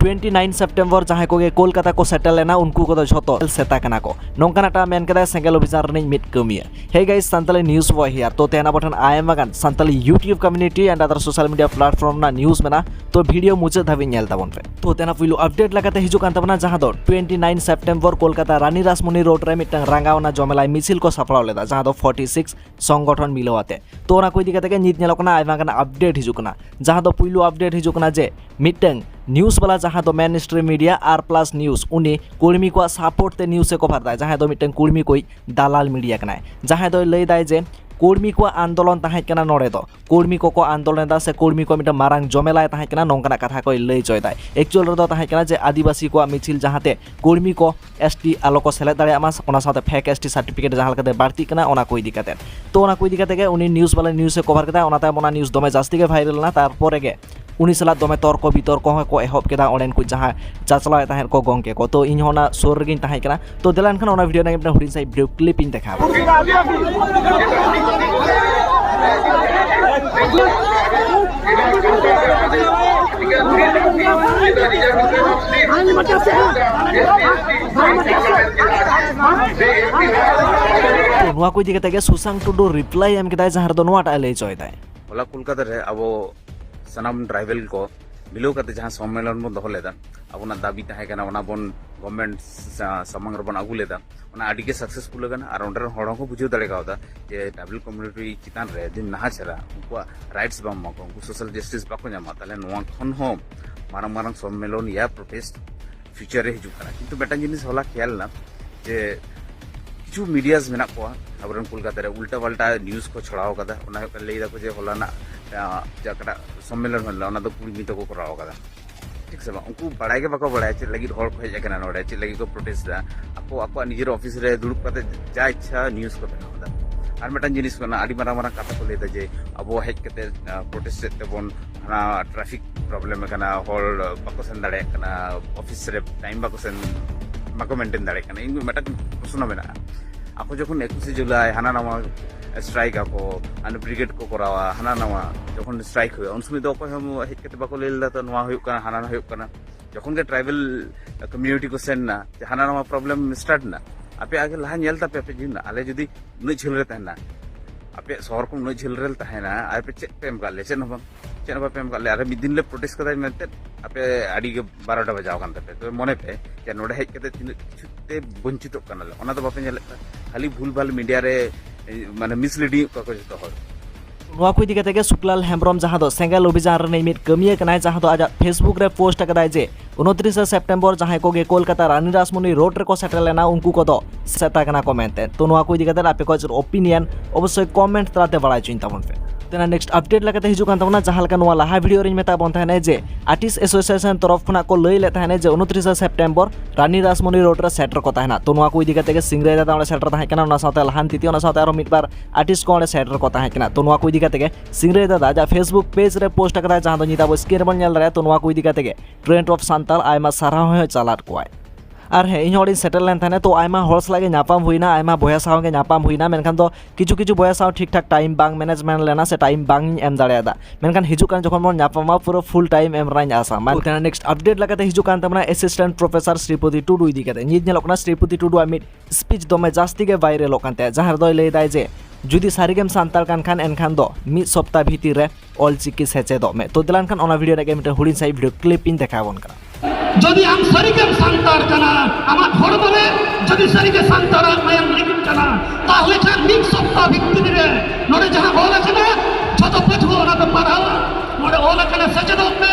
twenty nine September ᱡᱟᱦᱟᱸᱭ ᱠᱚᱜᱮ ᱠᱳᱞᱠᱟᱛᱟ ᱠᱚ ᱥᱮᱴᱮᱨ ᱞᱮᱱᱟ ᱩᱱᱠᱩ ᱠᱚᱫᱚ ᱡᱷᱚᱛᱚ ᱥᱮᱛᱟ ᱠᱟᱱᱟ ᱠᱚ ᱱᱚᱝᱠᱟᱱᱟᱜ ᱴᱟᱜ ᱢᱮᱱ ᱠᱮᱫᱟᱭ ᱥᱮᱸᱜᱮᱞ ᱚᱵᱷᱤᱡᱟᱱ ᱨᱤᱱᱤᱡ ᱢᱤᱫ ᱠᱟᱹᱢᱤᱭᱟᱹ ᱦᱮ ᱜᱟᱭᱤᱥ ᱥᱟᱱᱛᱟᱞᱤ ᱱᱤᱭᱩᱡᱽ ᱵᱚᱭ ᱦᱤᱭᱟᱨ ᱛᱚ ᱛᱮᱦᱮᱧ ᱟᱵᱚ ᱴᱷᱮᱱ ᱟᱭᱢᱟ ᱜᱟᱱ Santali YouTube community and ᱟᱫᱟᱨ social media platform ᱨᱮᱱᱟᱜ ᱱᱤᱭᱩᱡᱽ ᱢᱮᱱᱟᱜᱼᱟ ᱛᱚ ᱵᱷᱤᱰᱤᱭᱳ ᱢᱩᱪᱟᱹᱫ ᱫᱷᱟᱹᱵᱤᱡ ᱧᱮᱞ ᱛᱟᱵᱚᱱ ᱯᱮ ᱛᱚ ᱛᱮᱦᱮᱧ ᱯᱩᱭᱞᱩ ᱟᱯᱰᱮᱴ ᱞᱮᱠᱟᱛᱮ ᱦᱤᱡᱩᱜ ᱠᱟᱱ ᱛᱟᱵᱚᱱᱟ ᱡᱟᱦᱟᱸ ᱫᱚ twenty nine September Kolkata Rani Rashmoni road ᱨᱮ ᱢᱤᱫᱴᱟᱝ ᱨᱟᱸᱜᱟᱣᱱᱟ ᱡᱚᱢᱮᱞᱟᱭ ᱢᱤᱪᱷᱤᱞ ᱠᱚ ᱥᱟᱯᱲᱟᱣ ᱞᱮᱫᱟ ᱡᱟᱦᱟᱸ ᱫᱚ ᱯᱷᱚᱨᱴᱤ ᱥᱤᱠᱥ ᱥᱚᱝᱜᱚᱴᱷᱚᱱ ᱢᱤᱞᱟᱹᱣ ᱟᱛᱮ ᱛᱚ ᱚᱱᱟ ᱠᱚ ᱤᱫᱤ ᱠᱟᱛᱮ ᱜᱮ ᱱᱤᱛ ᱧᱮᱞᱚᱜ ᱠᱟᱱᱟ ᱟᱭᱢᱟ ᱜᱟᱱ ᱟᱯᱰᱮᱴ ᱦᱤᱡᱩᱜ ᱠᱟᱱᱟ ᱡᱟᱦᱟᱸ ᱫᱚ ᱯᱩᱭᱞᱩ ᱟᱯᱰᱮᱴ ᱦᱤᱡᱩᱜ ᱠᱟᱱᱟ ᱡᱮ ᱢᱤᱫᱴᱟᱝ ᱱᱤᱭᱩᱡ ᱵᱟᱞᱟ ᱡᱟᱦᱟᱸ ᱫᱚ ᱢᱮᱱ ᱥᱴᱨᱤᱢ ᱢᱤᱰᱤᱭᱟ ᱟᱨ ᱯᱞᱟᱥ ᱱᱤᱭᱩᱡ ᱩᱱᱤ ᱠᱚᱨᱢᱤ ᱠᱚᱣᱟᱜ ᱥᱟᱯᱳᱨᱴ ᱛᱮ ᱱᱤᱭᱩᱡ ᱮ ᱠᱚᱵᱷᱟᱨ ᱫᱟᱭ ᱡᱟᱦᱟᱸᱭ ᱫᱚ ᱢᱤᱫᱴᱟᱝ ᱠᱚᱨᱢᱤ ᱠᱚᱭ ᱫᱟᱞᱟᱞ ᱢᱤᱰᱤᱭᱟ ᱠᱟᱱᱟᱭ ᱡᱟᱦᱟᱸᱭ ᱫᱚᱭ ᱞᱟᱹᱭ ᱫᱟᱭ ᱡᱮ ᱠᱚᱨᱢᱤ ᱠᱚᱣᱟᱜ ᱟᱱᱫᱳᱞᱚᱱ ᱛᱟᱦᱮᱸ ᱠᱟᱱᱟ ᱱᱚᱰᱮ ᱫᱚ ᱠᱚᱨᱢᱤ ᱠᱚᱠᱚ ᱟᱱᱫᱳᱞᱚᱱ ᱮᱫᱟ ᱥᱮ ᱠᱚᱨᱢᱤ ᱠᱚ ᱢᱤᱫᱴᱟᱝ ᱢᱟᱨᱟᱝ ᱡᱚᱢᱮᱞᱟᱭ ᱛᱟᱦᱮᱸ ᱠᱟᱱᱟ ᱱᱚᱝᱠᱟᱱᱟᱜ ᱠᱟᱛᱷᱟ ᱠᱚᱭ ᱞᱟᱹᱭ ᱪᱚᱭᱮᱫᱟᱭ ᱮᱠᱪᱩᱭᱟᱞ ᱨᱮᱫᱚ ᱛᱟᱦᱮᱸ ᱠᱟᱱᱟ ᱡᱮ ᱟᱹᱫᱤᱵᱟᱹᱥᱤ ᱠᱚᱣᱟᱜ ᱢᱤᱪᱷᱤᱞ ᱡᱟᱦᱟᱸᱛᱮ ᱠᱚᱨᱢᱤ ᱠᱚ ᱮᱥ ᱴᱤ ᱟᱞᱚ ᱠᱚ ᱥᱮᱞᱮᱫ ᱫᱟᱲᱮᱭᱟᱜ ᱢᱟ ᱚᱱᱟ ᱥᱟᱶᱛᱮ ᱯᱷᱮᱠ ᱮᱥ ᱴᱤ ᱥᱟᱨᱴᱤᱯᱷᱤᱠᱮᱴ ᱡᱟᱦᱟᱸ ᱞᱮᱠᱟᱛᱮ ᱵᱟᱹᱲᱛᱤᱜ ᱠᱟᱱᱟ ᱚᱱᱟ ᱠᱚ ᱤᱫᱤ ᱠᱟᱛᱮ ᱛᱚ ᱚᱱᱟ ᱠᱚ ᱤᱫᱤ ᱠᱟᱛᱮ ᱜᱮ ᱩᱱᱤ ᱱᱤᱭᱩᱡᱽ ᱵᱟᱞᱟ ᱱᱤᱭᱩᱡᱽ ᱮ ᱠᱚᱵᱷᱟᱨ ᱠᱮᱫᱟ ᱚᱱᱟ ᱛᱟᱭᱚᱢ ᱚᱱᱟ ᱱᱤᱭᱩᱡᱽ ᱫᱚᱢᱮ ᱡᱟᱹᱥᱛᱤ ᱜᱮ ᱵᱷᱟᱭᱨᱟᱞ ᱮᱱᱟ ᱛᱟᱨᱯᱚᱨᱮ ᱜᱮ ᱩᱱᱤ ᱥᱟᱞᱟᱜ ᱫᱚᱢᱮ ᱛᱚᱨᱠᱚ ᱵᱤᱛᱚᱨᱠᱚ ᱦᱚᱸ ᱠᱚ ᱮᱦᱚᱵ ᱠᱮᱫᱟ ᱚᱸᱰᱮᱱ ᱠᱚ ᱡᱟᱦᱟᱸ ᱪᱟᱪᱞᱟᱣᱮᱫ ᱛᱟᱦᱮᱸᱫ ᱠᱚ ᱜᱚᱢᱠᱮ ᱠᱚ ᱛᱚ ᱤᱧ ᱦᱚᱸ ᱚᱱᱟ ᱥᱩᱨ ᱨᱮᱜᱮᱧ ᱛᱟᱦᱮᱸ ᱠᱟᱱᱟ ᱛᱚ ᱫᱮᱞᱟ ᱮᱱᱠᱷᱟᱱ ᱚᱱᱟ ᱵᱷᱤᱰᱤᱭᱳ ᱨᱮᱱᱟᱜ ᱢᱤᱫᱴᱟᱝ ᱦᱩᱰᱤᱧ ᱥᱟᱺᱦᱤᱡ ᱵᱷᱤᱰᱤᱭᱳ ᱠᱞᱤᱯ ᱤᱧ ᱫᱮᱠᱷᱟᱣ ᱱᱚᱣᱟ ᱠᱚ ᱤᱫᱤ ᱠᱟᱛᱮ ᱜᱮ ᱥᱩᱥᱟᱝ ᱴᱩᱰᱩ ᱨᱤᱯᱞᱟᱭ ᱮᱢ ᱠᱮᱫᱟᱭ ᱡᱟᱦᱟᱸ ᱨᱮᱫᱚ ᱱᱚᱣᱟᱴᱟᱜ ᱞᱟᱹᱭ ᱦᱚᱪᱚᱭᱮᱫᱟᱭ ᱦᱚᱞᱟ ᱠᱳᱞᱠᱟᱛᱟ ᱨᱮ ᱟᱵᱚ ᱥᱟᱱᱟᱢ ᱴᱨᱟᱭᱵᱮᱞ ᱠᱚ ᱢᱤᱞᱟᱹᱣ ᱠᱟᱛᱮ ᱡᱟᱦᱟᱸ ᱥᱚᱢᱢᱮᱞᱚᱱ ᱵᱚᱱ ᱫᱚᱦᱚ ᱞᱮᱫᱟ ᱟᱵᱚᱱᱟᱜ ᱫᱟᱹᱵᱤ ᱛᱟᱦᱮᱸ ᱠᱟᱱᱟ ᱚᱱᱟ ᱵᱚᱱ ᱜᱚᱵᱷᱢᱮᱱᱴ ᱥᱟᱢᱟᱝ ᱨᱮᱵᱚᱱ ᱟᱹᱜᱩ ᱞᱮᱫᱟ ᱚᱱᱟ ᱟᱹᱰᱤ ᱜᱮ ᱥᱟᱠᱥᱮᱥᱯᱷᱩᱞ ᱟᱠᱟᱱᱟ ᱟᱨ ᱚᱸᱰᱮ ᱨᱮᱱ ᱦᱚᱲ ᱦᱚᱸᱠᱚ ᱵᱩᱡᱷᱟᱹᱣ ᱫᱟᱲᱮ ᱠᱟᱣᱫᱟ ᱡᱮ ᱴᱨᱟᱭᱵᱮᱞ ᱠᱚᱢᱤউᱱᱤᱴᱤ ᱪᱮᱛᱟᱱ ᱨᱮ ᱡᱩᱫᱤ ᱱᱟᱦᱟᱪᱟᱨᱟ ᱩᱱᱠᱩᱣᱟᱜ ᱨᱟᱭᱤᱴᱥ ᱵᱟᱢ ᱮᱢᱟ ᱠᱚᱣᱟ ᱩᱱᱠᱩ ᱥᱳᱥᱟᱞ ᱡᱟᱥᱴᱤᱥ ᱵᱟᱠᱚ ᱧᱟᱢᱟ ᱛᱟᱦᱞᱮ ᱱᱚᱣᱟ ᱠᱷᱚᱱ ᱦᱚᱸ ᱢᱟᱨᱟᱝ ᱢᱟᱨᱟᱝ ᱥᱚᱢᱢᱮᱞᱚᱱ ᱭᱟ ᱯᱨᱚᱴᱮᱥᱴ ᱯᱷᱤᱭᱩᱪᱟᱨ ᱨᱮ ᱦᱤᱡᱩᱜ ᱠᱟᱱᱟ ᱠᱤᱱᱛᱩ ᱢᱤᱫᱴᱟᱝ ᱡᱤᱱᱤᱥ ᱦᱚᱞᱟ ᱠᱷᱮᱭᱟᱞ ᱮᱱᱟ ᱡᱮ ᱠᱤᱪᱷᱩ ᱢᱤᱰᱤᱭᱟᱥ ᱢᱮᱱᱟᱜ ᱠᱚᱣᱟ ᱟᱵᱚᱨᱮᱱ ᱠᱳᱞᱠᱟᱛᱟ ᱨᱮ ᱩᱞᱴᱟ ᱯᱟᱞᱴᱟ ᱱᱤᱭᱩᱡᱽ ᱠᱚ ᱪᱷᱚᱲᱟᱣ ᱠᱟᱫᱟ ᱚᱱᱟ ᱦᱩᱭᱩᱜ ᱠᱟᱱᱟ ᱞᱟᱹᱭ ᱫᱟᱠᱚ ᱡᱮ ᱦᱚᱞᱟᱱᱟᱜ ᱡᱟᱦᱟᱸᱴᱟᱜ ᱥᱚᱢᱢᱮᱞᱚᱱ ᱦᱩᱭ ᱞᱮᱱᱟ ᱚᱱᱟ ᱫᱚ ᱠᱩᱲᱢᱤ ᱛᱮᱠᱚ ᱠᱚᱨᱟᱣ ᱠᱟᱫᱟ ᱴᱷᱤᱠ ᱥᱮ ᱵᱟᱝ ᱩᱱᱠᱩ ᱵᱟᱲᱟᱭ ᱜᱮ ᱵᱟᱠᱚ ᱵᱟᱲᱟᱭᱟ ᱪᱮᱫ ᱞᱟᱹᱜᱤᱫ ᱦᱚᱲ ᱠᱚ ᱦᱮᱡ ᱟᱠᱟᱱᱟ ᱱᱚᱰᱮ ᱪᱮᱫ ᱞᱟᱹᱜᱤᱫ ᱠᱚ ᱯᱨᱚᱴᱮᱥᱴ ᱮᱫᱟ ᱟᱠᱚ ᱟᱠᱚᱣᱟᱜ ᱱᱤᱡᱮᱨ ᱚᱯᱷᱤᱥ ᱨᱮ ᱫᱩᱲᱩᱵ ᱠᱟᱛᱮ ᱡᱟ ᱤᱪᱪᱷᱟ ᱱᱤᱭᱩᱡᱽ ᱠᱚ ᱵᱮᱱᱟᱣ ᱮᱫᱟ ᱟᱨ ᱢᱤᱫᱴᱟᱝ ᱡᱤᱱᱤᱥ ᱠᱟᱱᱟ ᱟᱹᱰᱤ ᱢᱟᱨᱟᱝ ᱢᱟᱨᱟᱝ ᱠᱟᱛᱷᱟ ᱠᱚ ᱞᱟᱹᱭ ᱮᱫᱟ ᱡᱮ ᱟᱵᱚ ᱦᱮᱡ ᱠᱟᱛᱮ ᱯᱨᱚᱴᱮᱥᱴ ᱮᱫ ᱛᱮᱵᱚᱱ ᱚᱱᱟ ᱴᱨᱟᱯᱷᱤᱠ ᱯᱨᱚᱵᱞᱮᱢ ᱠᱟᱱᱟ ᱦᱚᱲ ᱵᱟᱠᱚ ᱥᱮᱱ ᱫᱟᱲᱮᱭᱟᱜ ᱠᱟᱱᱟ ᱚᱯᱷᱤᱥ ᱨᱮ ᱴᱟᱭᱤᱢ ᱵᱟᱠᱚ ᱥᱮᱱ ᱵᱟᱠᱚ ᱢᱮᱱᱴᱮᱱ ᱫᱟᱲᱮᱭᱟᱜ ᱠᱟᱱᱟ ᱤᱧ ᱢᱤᱫᱴᱟᱝ ᱯᱨᱚᱥᱱᱚ ᱢᱮᱱᱟᱜᱼᱟ ᱟᱠᱚ ᱡᱚᱠᱷᱚᱱ ᱮᱠᱩᱥᱮ ᱡᱩᱞᱟᱭ ᱦᱟᱱᱟ ᱱᱟᱣᱟ ᱥᱴᱨᱟᱭᱤᱠ ᱟᱠᱚ ᱦᱟᱱᱮ ᱵᱨᱤᱜᱮᱰ ᱠᱚ ᱠᱚᱨᱟᱣᱟ ᱦᱟᱱᱟ ᱱᱟᱣᱟ ᱡᱚᱠᱷᱚᱱ ᱥᱴᱨᱟᱭᱤᱠ ᱦᱩᱭᱩᱜᱼᱟ ᱩᱱ ᱥᱚᱢᱚᱭ ᱫᱚ ᱚᱠᱚᱭ ᱦᱚᱸ ᱦᱮᱡ ᱠᱟᱛᱮ ᱵᱟᱠᱚ ᱞᱟᱹᱭ ᱞᱮᱫᱟ ᱛᱚ ᱱᱚᱣᱟ ᱦᱩᱭᱩᱜ ᱠᱟᱱᱟ ᱦᱟᱱᱟ ᱱᱟᱣᱟ ᱦᱩᱭᱩᱜ ᱠᱟᱱᱟ ᱡᱚᱠᱷᱚᱱ ᱜᱮ ᱴᱨᱟᱭᱵᱮᱞ ᱠᱚᱢᱤᱭᱩᱱᱤᱴᱤ ᱠᱚ ᱥᱮᱱ ᱮᱱᱟ ᱦᱟᱱᱟ ᱱᱟᱣᱟ ᱯᱨᱚᱵᱞᱮᱢ ᱥᱴᱟᱨᱴ ᱮᱱᱟ ᱟᱯᱮ ᱟᱜᱮ ᱞᱟᱦᱟ ᱧᱮᱞ ᱛᱟᱯᱮ ᱟᱯᱮ ᱡᱤᱭᱚᱱ ᱟᱞᱮ ᱡᱩᱫᱤ ᱩᱱᱟᱹᱜ ᱡᱷᱟᱹᱞ ᱨᱮ ᱛᱟᱦᱮᱱᱟ ᱟᱯᱮᱭᱟᱜ ᱥᱚᱦᱚᱨ ᱠᱷᱚᱱ ᱩᱱᱟᱹᱜ ᱡᱷᱟᱹᱞ ᱨᱮᱞᱮ ᱛᱟᱦᱮᱱᱟ ᱟᱨ ᱯᱮ ᱪᱮᱫ ᱯᱮ ᱮᱢ ᱠᱟᱜ ᱞᱮᱭᱟ ᱪᱮᱫ ᱦᱚᱸ ᱵᱟᱝ ᱪᱮᱫ ᱦᱚᱸ ᱵᱟᱯᱮ ᱮᱢ ᱠᱟᱜ ᱞᱮᱭᱟ ᱟᱨ ᱢᱤᱫ ᱫᱤᱱ ᱞᱮ ᱯᱨᱚᱴᱮᱥᱴ ᱠᱟᱫᱟ ᱢᱮᱱᱛᱮ ᱟᱯᱮ ᱟᱹᱰᱤ ᱜᱮ ᱵᱟᱨᱚᱴᱟ ᱵᱟᱡᱟᱣ ᱠᱟᱱ ᱛᱟᱯᱮ ᱛᱚᱵᱮ ᱢᱚᱱᱮ ᱯᱮ ᱡᱮ ᱱᱚᱰᱮ ᱦᱮᱡ ᱠᱟᱛᱮ ᱛᱤᱱᱟᱹᱜ ᱠᱤᱪᱷᱩ ᱛᱮ ᱵᱚᱧᱪᱤᱛᱚᱜ ᱠᱟᱱᱟᱞᱮ ᱚᱱᱟ ᱫᱚ ᱵᱟᱯᱮ ᱧᱮᱞᱮᱫ ᱠᱟᱱᱟ ᱠᱷᱟᱹᱞᱤ ᱵᱷᱩᱞ ᱵᱷᱟᱞ ᱢᱤᱰᱤᱭᱟ ᱨᱮ ᱢᱟᱱᱮ ᱢᱤᱥᱞᱤᱰᱤᱝ ᱮᱫ ᱠᱚᱣᱟ ᱠᱚ ᱡᱚᱛᱚ ᱦᱚᱲ ᱱᱚᱣᱟ ᱠᱚ ᱤᱫᱤ ᱠᱟᱛᱮ ᱜᱮ ᱥᱩᱠᱞᱟᱞ ᱦᱮᱢᱵᱨᱚᱢ ᱡᱟᱦᱟᱸ ᱫᱚ ᱥᱮᱸᱜᱮᱞ ᱚᱵᱷᱤᱡᱟᱱ ᱨᱤᱱᱤᱡ ᱢᱤᱫ ᱠᱟᱹᱢᱤᱭᱟᱹ ᱠᱟᱱᱟᱭ ᱡᱟᱦᱟᱸ ᱫᱚ ᱟᱡᱟᱜ ᱯᱷᱮᱥᱵᱩᱠ ᱨᱮ ᱯᱳᱥᱴ ᱟᱠᱟᱫᱟᱭ ᱡᱮ ᱩᱱᱛᱨᱤᱥᱮ ᱥᱮᱯᱴᱮᱢᱵᱚᱨ ᱡᱟᱦᱟᱸᱭ ᱠᱚᱜᱮ ᱠᱳᱞᱠᱟᱛᱟ ᱨᱟᱱᱤ ᱨᱟᱥᱢᱩᱱᱤ ᱨᱳᱰ ᱨᱮᱠᱚ ᱥᱮᱴᱮᱨ ᱞᱮᱱᱟ ᱩᱱᱠᱩ ᱠᱚᱫᱚ ᱥᱮᱛᱟ ᱠᱟᱱᱟ ᱠᱚ ᱢᱮᱱᱛᱮ ᱛᱚ ᱱᱚᱣᱟ ᱠᱚ ᱤᱫᱤ ᱠᱟᱛᱮ ᱟᱯᱮ ᱠᱚ ᱚᱯᱤᱱᱤᱭᱚᱱ ᱚᱵᱚᱥᱥᱳᱭ ᱠᱚᱢᱮᱱᱴ ᱛᱟᱞᱟᱛᱮ ᱵᱟᱲᱟᱭ ᱦᱚᱪᱚᱧ ᱛᱟᱵᱚᱱ ᱯᱮ ᱛᱮᱱᱟ ᱱᱮᱠᱥᱴ ᱟᱯᱰᱮᱴ ᱞᱮᱠᱟᱛᱮ ᱦᱤᱡᱩᱜ ᱠᱟᱱ ᱛᱟᱵᱚᱱᱟ ᱡᱟᱦᱟᱸ ᱞᱮᱠᱟ ᱱᱚᱣᱟ ᱞᱟᱦᱟ ᱵᱷᱤᱰᱤᱭᱳ ᱨᱮᱧ ᱢᱮᱛᱟ ᱵᱚᱱ ᱛᱟᱦᱮᱱᱟ ᱡᱮ ᱟᱨᱴᱤᱥ ᱮᱥᱳᱥᱤᱭᱮᱥᱚᱱ ᱛᱚᱨᱚᱯ ᱠᱷᱚᱱᱟᱜ ᱠᱚ ᱞᱟᱹᱭ ᱞᱮᱫ ᱛᱟᱦᱮᱱᱟ ᱡᱮ ᱩᱱᱛᱨᱤᱥᱮ ᱥᱮᱯᱴᱮᱢᱵᱚᱨ ᱨᱟᱱᱤ ᱨᱟᱥᱢᱩᱱᱤ ᱨᱳᱰ ᱨᱮ ᱥᱮᱴᱮᱨ ᱠᱚ ᱛᱟᱦᱮᱱᱟ ᱛᱚ ᱱᱚᱣᱟ ᱠᱚ ᱤᱫᱤ ᱠᱟᱛᱮ ᱜᱮ ᱥᱤᱝᱨᱟᱭ ᱫᱟᱫᱟ ᱚᱸᱰᱮ ᱥᱮᱴᱮᱨ ᱛᱟᱦᱮᱸ ᱠᱟᱱᱟ ᱚᱱᱟ ᱥᱟᱶᱛᱮ ᱞᱟᱦᱟᱱ ᱛᱤᱛᱤ ᱚᱱᱟ ᱥᱟᱶᱛᱮ ᱟᱨᱚ ᱢᱤᱫ ᱵᱟᱨ ᱟᱨᱴᱤᱥ ᱠᱚ ᱚᱸᱰᱮ ᱥᱮᱴᱮᱨ ᱠᱚ ᱛᱟᱦᱮᱸ ᱠᱟᱱᱟ ᱛᱚ ᱱᱚᱣᱟ ᱠᱚ ᱤᱫᱤ ᱠᱟᱛᱮ ᱜᱮ ᱥᱤᱝᱨᱟᱹᱭ ᱫᱟᱫᱟ ᱟᱡᱟᱜ ᱯᱷᱮᱥᱵᱩᱠ ᱯᱮᱡᱽ ᱨᱮ ᱯᱳᱥᱴ ᱟᱠᱟᱫᱟᱭ ᱡᱟᱦᱟᱸ ᱫᱚ ᱱᱤᱛ ᱟᱵᱚ ᱥᱠᱨᱤᱱ ᱨᱮᱵᱚᱱ ᱧᱮᱞ ᱫᱟᱲᱮᱭᱟᱜᱼᱟ ᱛᱚ ᱱᱚᱣᱟ ᱠᱚ ᱤᱫᱤ ᱠᱟᱛᱮ ᱜᱮ ᱴᱨᱮᱱᱰ ᱚᱯᱷ ᱥᱟᱱᱛᱟᱲ ᱟᱭᱢᱟ ᱥᱟᱨᱦᱟᱣ ᱦᱚᱸ ᱪᱟᱞᱟᱫ ᱠᱚᱣᱟᱭ ᱟᱨ ᱦᱮᱸ ᱤᱧ ᱦᱚᱲᱤᱧ ᱥᱮᱴᱮᱨ ᱞᱮᱱ ᱛᱟᱦᱮᱱᱟ ᱛᱚ ᱟᱭᱢᱟ ᱦᱚᱲ ᱥᱟᱞᱟᱜ ᱜᱮ ᱧᱟᱯᱟᱢ ᱦᱩᱭᱱᱟ ᱟᱭᱢᱟ ᱵᱚᱭᱦᱟ ᱥᱟᱶ ᱜᱮ ᱧᱟᱯᱟᱢ ᱦᱩᱭᱱᱟ ᱢᱮᱱᱠᱷᱟᱱ ᱫᱚ ᱠᱤᱪᱷᱩ ᱠᱤᱪᱷᱩ ᱵᱚᱭᱦᱟ ᱥᱟᱶ ᱴᱷᱤᱠ ᱴᱷᱟᱠ ᱴᱟᱭᱤᱢ ᱵᱟᱝ ᱢᱮᱱᱮᱡᱢᱮᱱᱴ ᱞᱮᱱᱟ ᱥᱮ ᱴᱟᱭᱤᱢ ᱵᱟᱝ ᱤᱧ ᱮᱢ ᱫᱟᱲᱮᱭᱟᱫᱟ ᱢᱮᱱᱠᱷᱟᱱ ᱦᱤᱡᱩᱜ ᱠᱟᱱ ᱡᱚᱠᱷᱚᱱ ᱵᱚᱱ ᱧᱟᱯᱟᱢᱟ ᱯᱩᱨᱟᱹ ᱯᱷᱩᱞ ᱴᱟᱭᱤᱢ ᱮᱢ ᱨᱮᱱᱟᱜ ᱤᱧ ᱟᱥᱟ ᱢᱟ ᱠᱟᱱᱟ ᱱᱮᱠᱥᱴ ᱟᱯᱰᱮᱴ ᱞᱮᱠᱟᱛᱮ ᱦᱤᱡᱩᱜ ᱠᱟᱱ ᱛᱟᱵᱚᱱᱟ ᱮᱥᱤᱥᱴᱮᱱᱴ ᱯᱨᱚᱯᱷᱮᱥᱚᱨ ᱥᱨᱤᱯᱚᱛᱤ ᱴᱩᱰᱩ ᱤᱫᱤ ᱠᱟᱛᱮ ᱱᱤᱛ ᱧᱮᱞᱚᱜ ᱠᱟᱱᱟ ᱥᱨᱤᱯᱚᱛᱤ ᱴᱩᱰᱩᱣᱟᱜ ᱢᱤᱫ ᱥᱯᱤᱪ ᱫᱚᱢᱮ ᱡᱟᱹᱥᱛᱤ ᱜᱮ ᱵᱷᱟᱭᱨᱟᱞᱚᱜ ᱠᱟᱱ ᱛᱟᱭᱟ ᱡᱟᱦᱟᱸ ᱨᱮᱫᱚᱭ ᱞᱟᱹᱭᱫᱟᱭ ᱡᱮ ᱡᱩᱫᱤ ᱥᱟᱹᱨᱤᱜᱮᱢ ᱥᱟᱱᱛᱟᱲ ᱠᱟᱱ ᱠᱷᱟᱱ ᱮᱱᱠᱷᱟᱱ ᱫᱚ ᱢᱤᱫ ᱥᱚᱯᱛᱟ ᱵᱷᱤᱛᱤᱨ ᱨᱮ ᱚᱞᱪᱤᱠᱤ ᱥᱮᱪᱮᱫᱚᱜ ᱢᱮ ᱛᱚ ᱫᱮᱞᱟᱱ ᱠᱷᱟᱱ ᱚᱱᱟ ᱵᱷᱤᱰᱤᱭᱳ ᱨᱮᱜᱮ ᱢᱤᱫᱴᱮᱱ ᱦᱩᱰᱤᱧ ᱥᱟᱺᱦᱤᱡ ᱵᱷᱤᱰᱤᱭᱳ ᱠᱞᱤᱯ ᱤᱧ ᱫᱮᱠᱷᱟᱣ ᱵᱚᱱ ᱠᱟᱱᱟ ᱡᱩᱫᱤ ᱟᱢ ᱥᱟᱹᱨᱤᱜᱮᱢ ᱥᱟᱱᱛᱟᱲ ᱠᱟᱱᱟ ᱟᱢᱟᱜ ᱦᱚᱲᱢᱚ ᱨᱮ ᱡᱩᱫᱤ ᱥᱟᱹᱨᱤᱜᱮ ᱥᱟᱱᱛᱟᱲᱟᱜ ᱢᱟᱭᱟᱢ ᱞᱤᱸᱜᱤᱱ ᱠᱟᱱᱟ ᱛᱟᱦᱞᱮ ᱠᱷᱟᱱ ᱢᱤᱫ ᱥᱚᱯᱛᱟ ᱵᱷᱤᱛᱤᱨ ᱨᱮ ᱱᱚᱰᱮ ᱡᱟᱦᱟᱸ ᱚᱞ ᱟᱠᱟᱱᱟ ᱡᱷᱚᱛᱚ ᱯᱟᱹᱴᱷᱩᱣᱟᱹ ᱚᱱᱟ ᱫᱚ ᱯᱟᱲᱦᱟᱣᱟ ᱱᱚᱰᱮ ᱚᱞ ᱟᱠᱟᱱᱟ ᱥᱮᱪᱮᱫᱚᱜ ᱢᱮ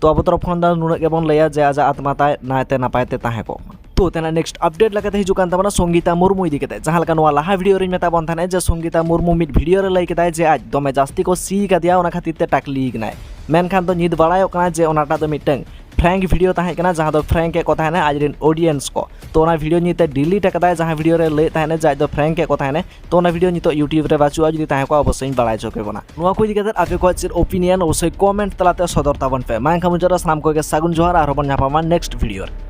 ᱛᱚ ᱟᱵᱚ ᱛᱚᱨᱚᱯ ᱠᱷᱚᱱ ᱫᱚ ᱱᱩᱱᱟᱹᱜ ᱜᱮᱵᱚᱱ ᱞᱟᱹᱭᱟ ᱡᱮ ᱟᱡᱟᱜ ᱟᱛᱢᱟ ᱛᱟᱭ ᱱᱟᱭᱛᱮ ᱱᱟᱯᱟᱭ ᱛᱮ ᱛᱟᱦᱮᱸ ᱠᱚᱜ ᱢᱟ ᱛᱚ ᱛᱮᱱᱟᱜ ᱱᱮᱠᱥᱴ ᱟᱯᱰᱮᱴ ᱞᱮᱠᱟᱛᱮ ᱦᱤᱡᱩᱜ ᱠᱟᱱ ᱛᱟᱵᱚᱱᱟ ᱥᱚᱝᱜᱤᱛᱟ ᱢᱩᱨᱢᱩ ᱤᱫᱤ ᱠᱟᱛᱮ ᱡᱟᱦᱟᱸ ᱞᱮᱠᱟ ᱱᱚᱣᱟ ᱞᱟᱦᱟ ᱵᱷᱤᱰᱤᱭᱳ ᱨᱤᱧ ᱢᱮᱛᱟ ᱵᱚᱱ ᱛᱟᱦᱮᱸᱱᱟ ᱡᱮ ᱥᱚᱝᱜᱤᱛᱟ ᱢᱩᱨᱢᱩ ᱢᱤᱫ ᱵᱷᱤᱰᱤᱭᱳ ᱨᱮ ᱞᱟᱹᱭ ᱠᱮᱫᱟᱭ ᱡᱮ ᱟᱡ ᱫᱚᱢᱮ ᱡᱟᱹᱥᱛᱤ ᱠᱚ ᱥᱤ ᱠᱟᱫᱮᱭᱟ ᱚᱱᱟ ᱠᱷᱟᱹᱛᱤᱨ ᱛᱮ ᱴᱟᱠᱞᱤ ᱠᱟᱱᱟᱭ ᱢᱮᱱᱠᱷᱟᱱ ᱫᱚ ᱱᱤᱛ ᱵᱟᱲᱟᱭᱚᱜ ᱠᱟᱱᱟ ᱡᱮ ᱚᱱᱟᱴᱟᱜ ᱫᱚ ᱢᱤᱫᱴᱟᱝ ᱯᱷᱨᱮᱝᱠ ᱵᱷᱤᱰᱤᱭᱳ ᱛᱟᱦᱮᱸ ᱠᱟᱱᱟ ᱡᱟᱦᱟᱸ ᱫᱚ ᱯᱷᱨᱮᱝᱠ ᱮ ᱠᱚ ᱛᱟᱦᱮᱸᱱᱟ ᱟᱡ ᱨᱮᱱ ᱚᱰᱤᱭᱮᱱᱥ ᱠᱚ ᱛᱚ ᱚᱱᱟ ᱵᱷᱤᱰᱤᱭᱳ ᱧᱮᱞᱛᱮ ᱰᱤᱞᱤᱴ ᱟᱠᱟᱫᱟᱭ ᱡᱟᱦᱟᱸ ᱵᱷᱤᱰᱤᱭᱳ ᱨᱮ ᱞᱟᱹᱭᱮᱫ ᱛᱟᱦᱮᱸᱱᱟ ᱡᱮ ᱟᱡ ᱫᱚ ᱯᱷᱨᱮᱝᱠ ᱮ ᱠᱚ ᱛᱟᱦᱮᱸᱱᱟ ᱛᱚ ᱚᱱᱟ ᱵᱷᱤᱰᱤᱭᱳ ᱱᱤᱛᱚᱜ ᱤᱭᱩᱴᱤᱭᱩᱵᱽ ᱨᱮ ᱵᱟᱹᱪᱩᱜᱼᱟ ᱡᱩᱫᱤ ᱛᱟᱦᱮᱸ ᱠᱚᱜᱼᱟ ᱚᱵᱚᱥᱥᱳᱭ ᱤᱧ ᱵᱟᱲᱟᱭ ᱦᱚᱪᱚ ᱠᱮ ᱵᱚᱱᱟ ᱱᱚᱣᱟ ᱠᱚ ᱤᱫᱤ ᱠᱟᱛᱮ ᱟᱯᱮ ᱠᱚᱣᱟᱜ ᱪᱮᱫ ᱚᱯᱤᱱᱤᱭᱚᱱ ᱚᱵᱚᱥᱥᱳᱭ ᱠᱚᱢᱮᱱᱴ ᱛᱟᱞᱟᱛᱮ ᱥᱚᱫᱚᱨ ᱛᱟᱵᱚᱱ ᱯᱮ ᱢᱟ ᱮᱱᱠᱷᱟᱱ ᱢᱩᱪᱟᱹᱫ ᱨᱮ ᱥᱟᱱᱟᱢ ᱠᱚᱜᱮ ᱥᱟᱹᱜᱩᱱ ᱡᱚᱦᱟᱨ ᱟᱨᱦᱚᱸ ᱵᱚᱱ ᱧᱟᱯᱟᱢᱟ ᱱᱮᱠᱥᱴ ᱵᱷᱤᱰᱤᱭᱳ ᱨᱮ